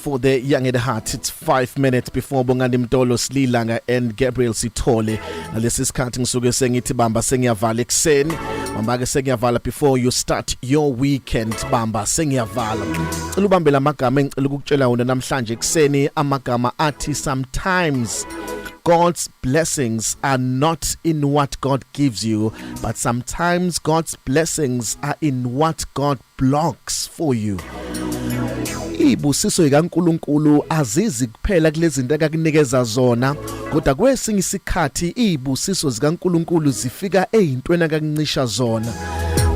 For the young at heart, it's five minutes before Bongani Mtolo Slilanga and Gabriel Sithole. Nalesi sikhathi ngisuke sengithi bamba sengiyavala ekseni. Bamba ke sengiyavala before you start your weekend bamba sengiyavala. Cela ubambe lamagama engicela ukukutshela wona namhlanje ekseni amagama athi sometimes God's blessings are not in what God gives you, but sometimes God's blessings are in what God blocks for you ibusiso ikaNkuluNkulu azizi kuphela kulezinto akakunikeza zona kodwa kwesinye isikhathi izibusiso zikaNkuluNkulu zifika ezintweni akakuncisha zona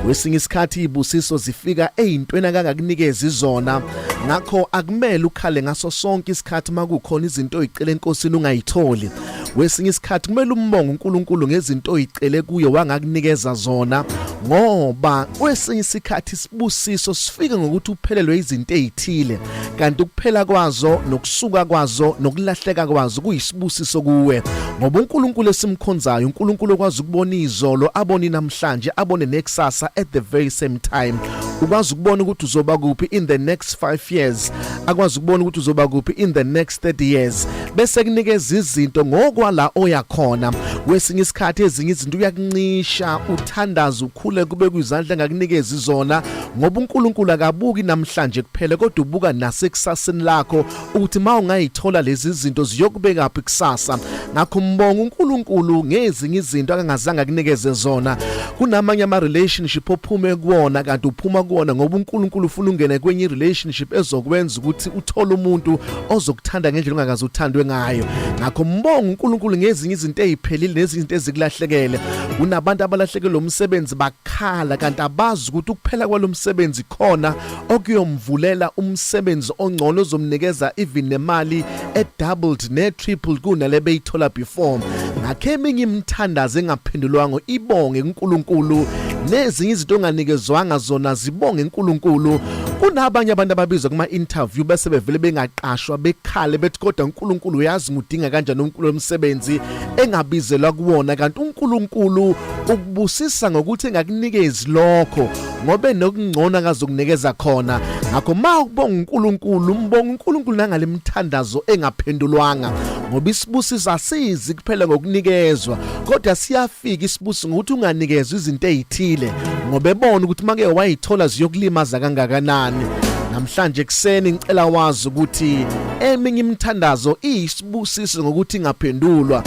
kwesinye isikhathi izibusiso zifika ezintweni akangakunikezi zona ngakho akumele ukhale ngaso sonke isikhathi makukhona izinto oyicela enkosini ungayitholi wesinye isikhathi kumele umbonge uNkulunkulu ngezinto oyicele kuye wangakunikeza zona ngoba kwesinye isikhathi isibusiso sifike ngokuthi uphelelwe izinto ezithile kanti ukuphela kwazo nokusuka kwazo nokulahleka kwazo kuyisibusiso kuwe ngoba uNkulunkulu esimkhonzayo uNkulunkulu okwazi ukubona izolo abone namhlanje abone nekusasa at the very same time ukwazi ukubona ukuthi uzoba kuphi in the next 5 years akwazi ukubona ukuthi uzoba kuphi in the next 30 years bese kunikeza izinto ngokwala oya khona kwesinye isikhathi ezinye izinto uyakuncisha uthandaza ukhule kube kwizandla ngakunikeza izona ngoba uNkulunkulu akabuki namhlanje kuphele kodwa ubuka nasekusaseni lakho ukuthi ma ungayithola lezi zinto ziyokubeka phi kusasa ngakho mbonga uNkulunkulu ngezinye izinto akangazange akunikeze zona kunamanye ama relationship ophume kuwona kanti uphuma kuwona ngoba uNkulunkulu ufuna ungene kwenye relationship ezokwenza ukuthi uthole umuntu ozokuthanda ngendlela ongakaze uthandwe ngayo ngakho mbonga uNkulunkulu ngezinye izinto eziphelile nezinto ezikulahlekele unabantu abalahlekelwe umsebenzi bakhala kanti abazi ukuthi ukuphela kwalomsebenzi khona okuyomvulela umsebenzi ongcono ozomnikeza even nemali e doubled ne triple kunale beyithola before ngakhe eminye imthandazo engaphendulwanga ibonge uNkulunkulu nezinye izinto onganikezwanga zona zibonge uNkulunkulu Kunabanye abantu ababizwa kuma interview bese bevele bengaqashwa bekhale bethi kodwa uNkulunkulu uyazi ngudinga kanjani uNkulunkulu omsebenzi engabizelwa kuwona kanti uNkulunkulu ukubusisa ngokuthi engakunikezi lokho ngobe nokungcono akazokunikeza khona ngakho ma ukubonga uNkulunkulu umbonga uNkulunkulu nangale mithandazo engaphendulwanga ngoba isibusiso asizi kuphela ngokunikezwa kodwa siyafika isibusi ngokuthi unganikezwa izinto ezithile ngoba ebona ukuthi make wayithola ziyokulimaza kangakanani namhlanje kuseni ngicela wazi ukuthi eminye imithandazo iyisibusiso ngokuthi ingaphendulwa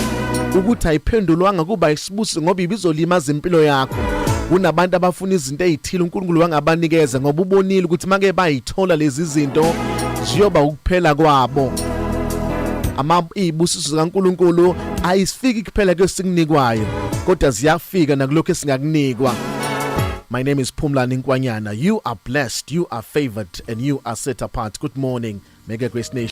ukuthi ayiphendulwanga kuba isibusi ngoba ibizolimaza impilo yakho kunabantu abafuna izinto ezithile uNkulunkulu wangabanikeza ngoba ubonile ukuthi make bayithola lezi zinto ziyoba ukuphela kwabo ama ibusiso zikaNkuluNkulu ayisifiki kuphela kwesikunikwayo kodwa ziyafika nakulokho esingakunikwa My name is Pumlani Nkwanyana. You are blessed, you are favored, and you are set apart. Good morning, Mega Grace Nation.